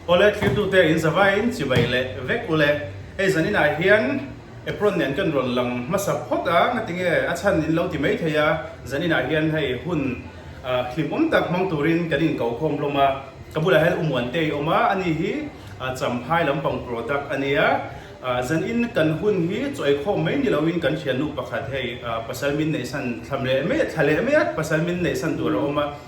College thirtute in zavaiin chibai leh vek u le. Hei zaninah hian apron nen kan rawn lang hmasa phawt a, ngatinge a chhan in lo ti mai thei a, zaninah hian hei hun hlimawm tak hmang turin kan in ko khawm hlawm a, ka bulah hian u muan te a awm a, ani hi Champhai lampang product a nia, zan in kan hun hi chawi khawm mai ni lo in kan thiannu pakhat hei pasal min neihsan thla leh mai a pasal min neihsan tur a awm a.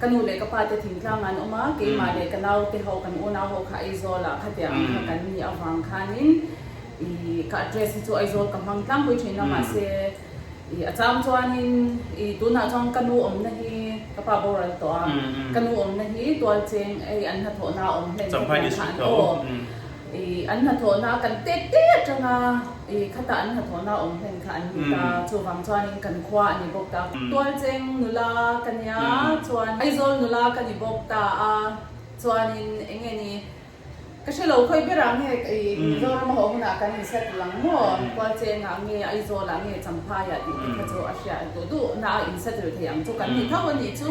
Ka nu leh ka pa te thingtlangah an awm a, keimah leh ka naute ho, kan unau ho kha Aizawl ah khatia ang kha kan ni avang khan in i ka address hi chu Aizawl ka hmang tlangpui thin a, mahse i a chang chuan in i tunah chuan ka nu awmna hi ka pa boral tawh a, ka nu awmna hi tualcheng ei an hnathawhna a awm hlen kha tiang kha an aw. I an hnathawhna kan te te atanga i khata an hnathawhna awm hian kha an ni ta, chuvang chuanin kan khua a ni bawk ta. Tualcheng nula ka nia chuan Aizawl nula ka ni bawk ta a, chuanin eng nge ni ka hre lo khawi ber ang nge i Mizoram a haw hunah kan inset lang maw, Tualchengah nge Aizawlah nge Champhaiah tih te kha chu a hriat duh duh na a inset rilh theih ang chu kan ni tho a nih chu.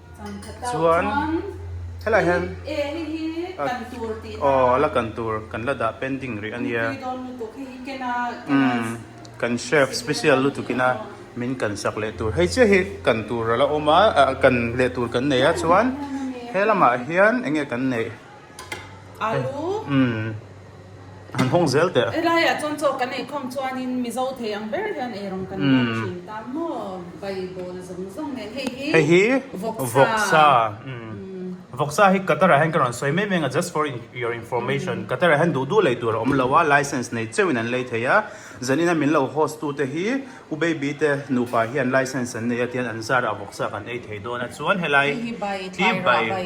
chuan helai hian aw la kan tur kan la dah pending rih ania kan chef special lutuk ina min kan sak leh tur hei chiahi kan tur ala awm a kan leh tur kan nei a chuan he lamah hian eng nge kan neih. Alu. An hawng zel teh. Helaiah chuan chaw kan ei khawm chuanin Mizo thei ang ber hian erawng kan ngam thin ta maw? Bible zawng zawng nen. Hei hi. Hei hi. Vawksa. Vawksa. Vawksa hi Qatar-ah hian ka rawn sawi mai mai ang a, just for your information. Qatar-ah hian duh duh leh tur a awm lo a, licence nei chauhin an lei thei a. Zan ina min lo host tu te hi u baby te nupa hian licence an nei a tian an zara vawksa kan ei thei dawn a chuan helai. Hei hi bai. Tlai ruah bai.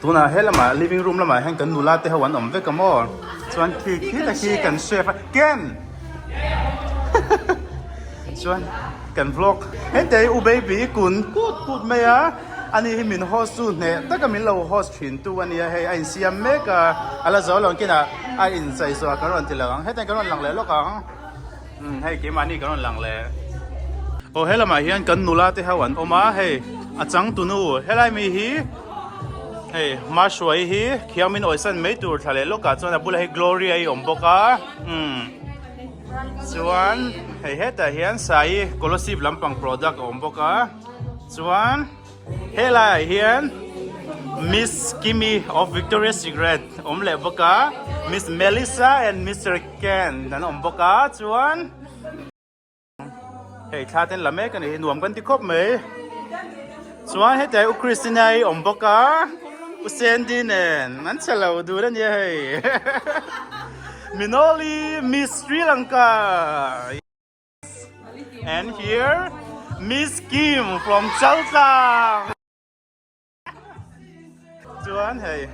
tunah he lamah living room lamah hian kan nula te ho an awm vek a maw chuan khi khi te khi kan chef a ken hahaha chuan kan vlog hetiang hi u baby i kun put put mai a ani hi min host chu hneh taka min lo host thin tu a nia hei a insiam mek a a la zo lo ang kinah a inchei zawh a kan rawn ti lo ang hetiang kan rawn lang leh lawk ang. Hei keimahni kan rawn lang le. Aw he lamah hian kan nula te ho an awm a hei a changtunu helai mi hi hei Mahruai hi Thiangmin awihsan mai tur thla leh lawkah chuan a bulah hi Gloria i awm bawk a umm chuan hei hetah hian Sai Colosive lampang product a awm bawk a chuan-- He laiah hian Miss Kimmy of Victoria's Secret awm leh bawk a, Miss Melissa and Mister Ken an awm bawk a, chuan hei thla ten la mek a ni, nuam kan ti khawp mai, chuan hetiah hian U Christina hi a awm bawk a, U Sandy nen an che lo dun a nia hei, Minoly Miss Sri Lanka. And here Miss Kim from Chalchang. Chuan hei.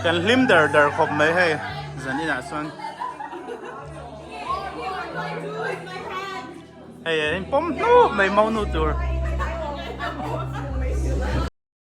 Kan hlim der der khawp mai hei. Zan ina chuan. Hei, hei, pom hnu mai mau nu tur.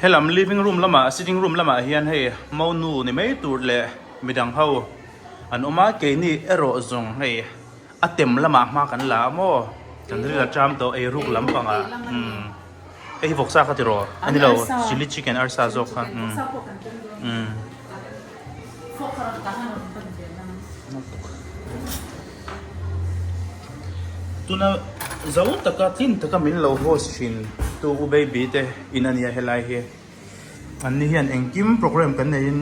He lam living room lama sitting room lamah hian hei mo nu ni mai tur leh midang ho an awm a, keini erawh zawng hei a tem lamah hma kan la a maw? Kan ril a ṭam tawh ei ruk lam panga umm hei hi vawksa kha tiraw? Anilo chilli chicken arsa zawk kha umm umm. Tuna zo taka tlin taka min lo host thin tu u baby te in a nia helai hi. An ni hian engkim programme kan nei in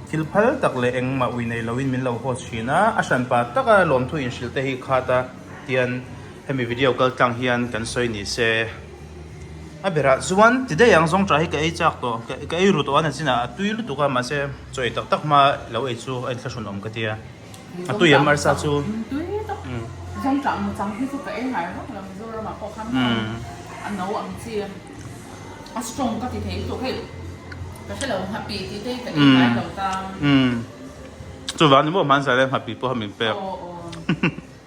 thil phal tak leh engmah ui nei lo in min lo host thin a, a hran pa taka lawmthu inhrilh te hi khat a tian hemi video kal tlang hian kan sawi ni se. A berah chuan ti daih ang zawng ṭah hi ka ei chak tawh, ka ei ru tawh a, Nazin-a a tui lutuk a, mahse chaw ei tak tak hma lo ei chu a in thlahrun awm ka ti a, a tui em arsa chu umm chuvang ni maw hmansa le ngha pi pawh a min pek.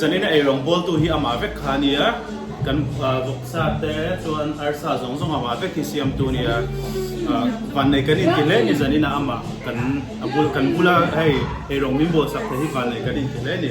Zanin a eirang bawltu hi amah vek kha a ni a, kan vawksa te chuan arsa zawng zawng amah vek hi siamtu a ni a. Vannei kan inti hle ni zanin a amah kan a bul kan bul a, hei eirang min bawlsak theih hi vannei kan inti hle ni.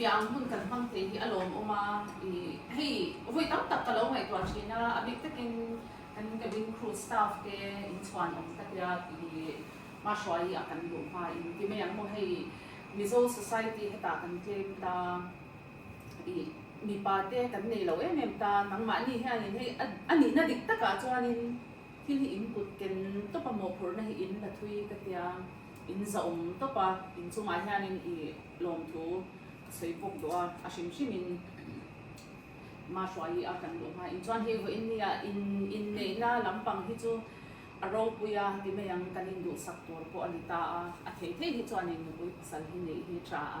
bia ang hun kan hmang thei hi a lawm awm a, i hei vui tam tak ka lo ngaihtuah thin a, a bik takin kan cabin crew staff te inchhuan awm tak ila i hma hruaia a kan luh hma in ti mai ang maw hei Mizo society hetah kan claim ta i mipa te kan nei lo em em ta nangmahni hianin hei a nihna dik takah chuanin thil hi in kut ken tawpa mawhphurhna hi in la thui ka tia. In zahawm tawpa in chungah hianin i lawmthu ka sawi bawk duh a, a hrim hrimin ma hruaih a kan duh hma in chuan hei vawiin nia in inneihna lampang hi chu a ropui a ti mai ang kan induhsak tur pawh a ni ta a, a thei thei hi chuanin nupui pasal hi neih hi a tha a.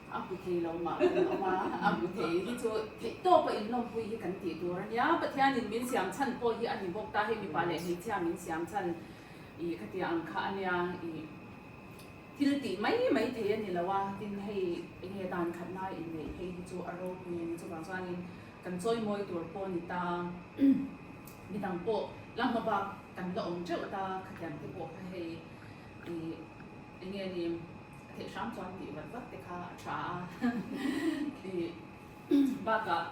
A hmu thei lo mah kan awm a, a hmu thei hi chu theihtawp a inlawmpui hi kan tih tur a nia. Pathianin min siam chhan pawh hi a ni bawk ta, hei mipa leh hmeichhia min siam chhan ih ka tia ang kha a nia ih thil tih mai mai thei a ni lo a, tin hei eng nge dan khat lai inneih phei hi chu a ropui a ni. Chuvang chuanin kan chawi mawi tur pawh a ni ta, mi dang pawh la hma bak kan la awm teuh ta, khatiang te pawh kha hei ih eng nge ni, A theih hrang chuan tih vat vat te kha a tha a, ih bakah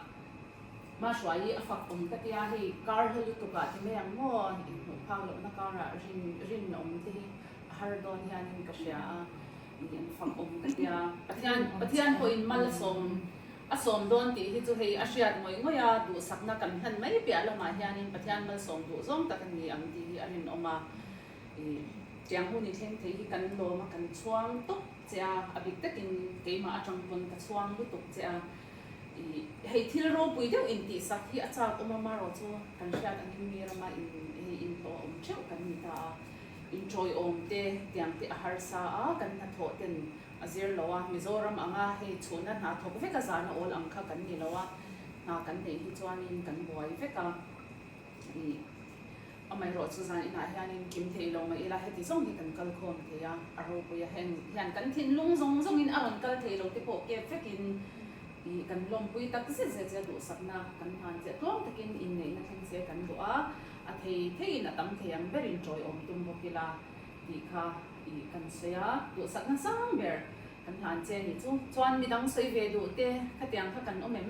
Mahruai hi a fak awm ta tia hei kar he lutukah ti mai ang maw inhmuh phau lohna karah rin rin a awm te hi a har dawn hianin ka hria a, ih an fak awm ta tia Pathian Pathian pawhin mal a sawm a sawm dawn tih hi chu hei a hriat ngawih ngawih a, duhsakna kan hlan mai piah lamah hianin Pathian malsawm duh zawng tak an ni ang tih hi a rinawm a. Tiang hu ni thleng thei hi kan lawm a kan chhuang tawp che a, a bik takin keimah atang pawn ka chhuang lutuk che a. Hei thil ropui deuh intihsak hi a chak awm a Maro chu kan hriat a ngim mi rama in hei inhlawh a awm theuh kan ni ta a, inṭawiawm te tiang te a harsa a, kan hnathawh ten a zir lo a, Mizoram anga hei chhunna hna thawk vek a zana awl ang kha kan ni lo a, hna kan neih hi chuanin kan buai vek a. Ni. Amaherawh chu zan inah hianin kim theih lo mai ila heti zawng hi kan kal khawm thei a, a ropui a heng nih hian kan thinlung zawng zawngin a rawn kal thei lote pawh kep vekin ih kan lawmpui tak zet zet zia duhsakna kan hmanchiah tuam takin inneihna thleng se kan duh a, a thei theiin a tam thei ang berin tawiawm tum bawk ila tih kha ih kan sawi a, duhsakna sang ber kan hlan che ni chu. Chuan midang sawi ve duhte khatiang kha kan awm em?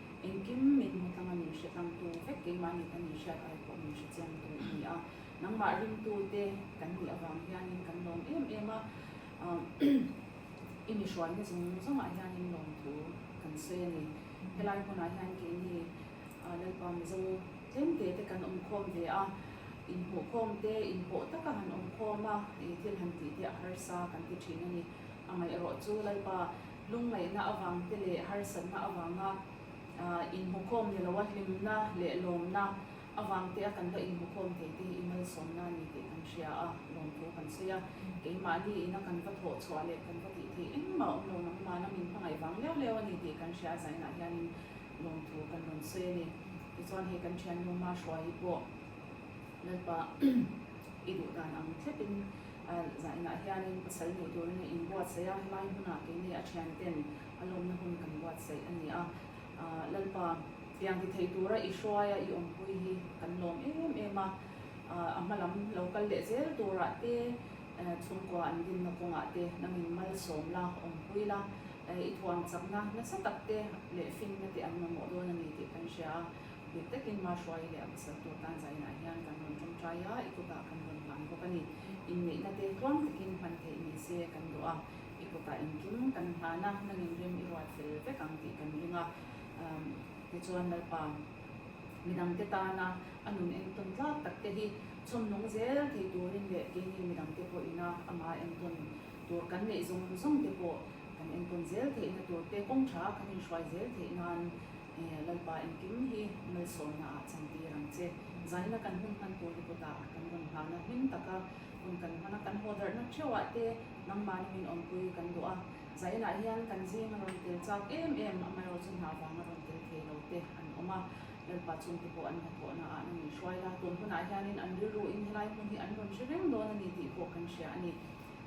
Engkim min hmuhthlang a nih hre tlang tu vek keimah nih ka nih hriat ai pawh min hrechiam tur a ni a, nangmah ringtute kan nih avang hianin kan lawm em em a, i mihrualna zawng zawngah hianin lawmthu kan sawi a ni. Helai hunah hian keini Lalpa Mizo tlemtete kan awmkhawm ve a, inhmuhkhawmte inhawh taka han awmkhawm a, thil han tihte a harsa kan ti thin a ni. Amaherawhchu Lalpa Lungngaihna avangte leh harsatna avanga inhmukhawm ni loa hlimna leh lawmna avangte a kan va inhmukhawm thei te hi i malsawmna a ni tih kan hria a, lawmtho kan sawi a. Keimahni ina kan va thawh chhuah leh kan va tih theih engmah awm lo nang mahna min hmangaih vang leu leu a ni tih kan hria a, zainah hianin lawmtho kan rawn sawi a ni. Tichuan hei kan thiannu Marshua hi pawh. Lalpa, I duh dan ang thletin zah inah hianin pasal hmuh turin in buatsaih a, helai hmunah keini a thianten a lawmna hun kan buatsaih a ni a. Lalpa, Tiang ti theih tura i hruai a, i awmpui hi kan lawm em em a, a hma lam lo kal leh zel turah te, chhungkua an dinna kawngah te na min malsawm la, awmpui la, i thuamchakna nasa tak te leh fingna te an mamawh dawn a ni tih kan hria a, Bik takin March uai leh a pasal tur tan zainah hian kan rawn tawngtai a, i kutah kan rawn hlan bawk a ni. Inneihna te tluang takin hman theih ni se kan duh a, i kutah engkim kan hlan a, nang in rim i ruat fel vek ang tih kan ring a. Umm tichuan Lalpa midangte tana a nun entawn tlak tak te hi chhawm nung zel thei turin leh keini midangte pawhina ama entawn tur kan neih zawng zawng te pawh kan entawn zel theihna turte kawngtha kan inhruai zel theih nan, Ehh, Lalpa engkim hi Malsawmna ah chantir ang che. Zaina kan hun hman tur hi kutah kan rawn nghal na hming tak a, hun kan hman a, kan hawhdarh na theuh ah te nangmahna min awmpui kan duh a, Zainah hian kan zing a rawn tel chak em em, amaherawh chu hna vang a rawn tel thei lo te an awm a, Lalpa chung te pawh an hnathawh na ah na nih hruai la, tun hunah hianin an rilru in helai hmun hi an rawn hre reng dawn a ni tih pawh kan hria a ni.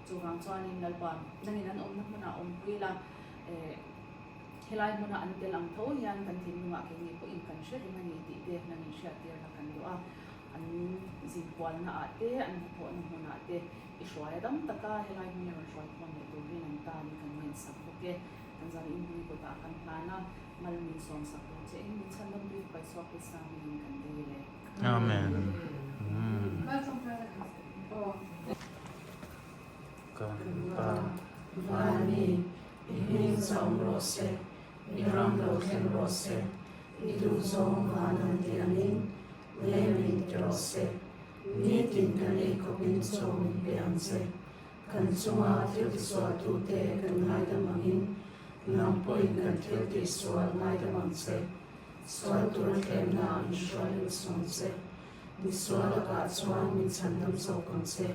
Chuvang chuanin Lalpa, nangin an awmna hmun ah awmpui la, ehh. Helai hmuna an tel ang tho hian kan tling hnungah keini pawhin kan hre reng a ni tih dekna nih hriattirna kan duh a, an zin kualnaah te an hnathawhna hmunah te i hruai a dam tak a, helai hmun i rawn hruai khawn leh tur hian an tan i kan ngaih sak bawk e. Kan zan inbui kawtah kan hlan a, mal min sawm sak tur che in min chhan lamri ka paihsuak Krista hmingin kan dei le. Amen. Ka pa, Vani, i hming zam rawh se, i ram lo thleng rawh se, i duh zawng van an tih ang in, lem in ti rawh se, nitin kan eikhawpin chaw min pe ang che. Kan chunga thiltihsualtute kan ngaidam ang in, hnam pawhin kan thiltihsual ngaidam ang che. Sual tur thlemna ah mihruain a sawm che. Misual lakah chuan min chhandam chauh kang che.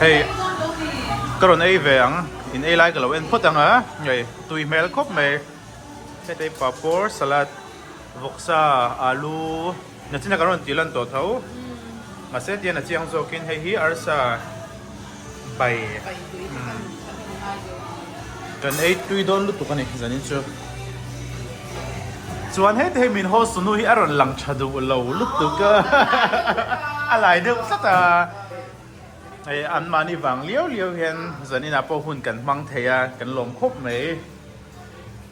Hei ka rawn ei ve ang, in ei lai ka lo en phawt ang a, hei tui hmel khawp mai, hetei papaw, salad, vawksa, alu, Nachina kan rawn tih lan tawh tho, mahse tian a chiang zawkin hei hi arsa. Bai kan ei tui dawn lutuk a ni zanin chu chuan hete hi min haw sunu hi a rawn lang tha duh lo lutuk a a lai deuh tlat a hei an mahni vang liau liau hian zaninah pawh hun kan hmang thei a kan lawm khawp mai.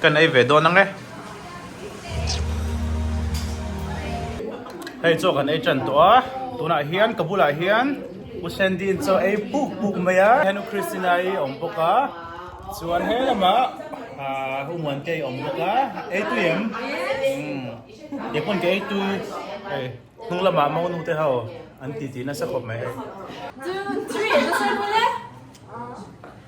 Kan ei ve dawn ang e. Hei chu kan ei tan tawh a, tunah hian ka bulah hian Pu Sandy-in chu a ei puk puk mai a, heng i Christina i awm bawk a, chuan he lamah aah U Muan te i awm bawk a, eitu i em? Kei pawn ka eitu hei hnung lamah mo nu te ho an titi nasa khawp mai hei. Two, three, nasa emaw le?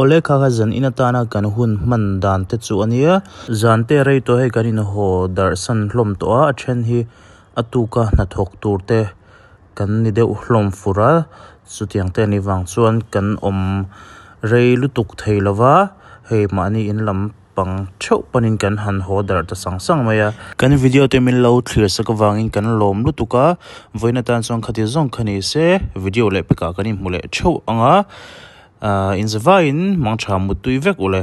Awle kha kha zan in atana kan hun hman dan te chu ania zan te rei tawh hi kan in haw darh san hlawm tawh a a then hi a tuka hnathawk tur te kan ni deuh hlawm fur a chutiang te ni vang chuan kan awm rei lutuk thei lova hei mahni in lam-- pang theuh panin kan han haw darh ta sang sang mai a. Kan video te min lo thlir sak avangin kan lawm lutuk a, vawiin atan chuan khati zawng kha ni se video leh pekah kan inhmu leh theuh ang a, inzavaiin mangtha muttui vek u le.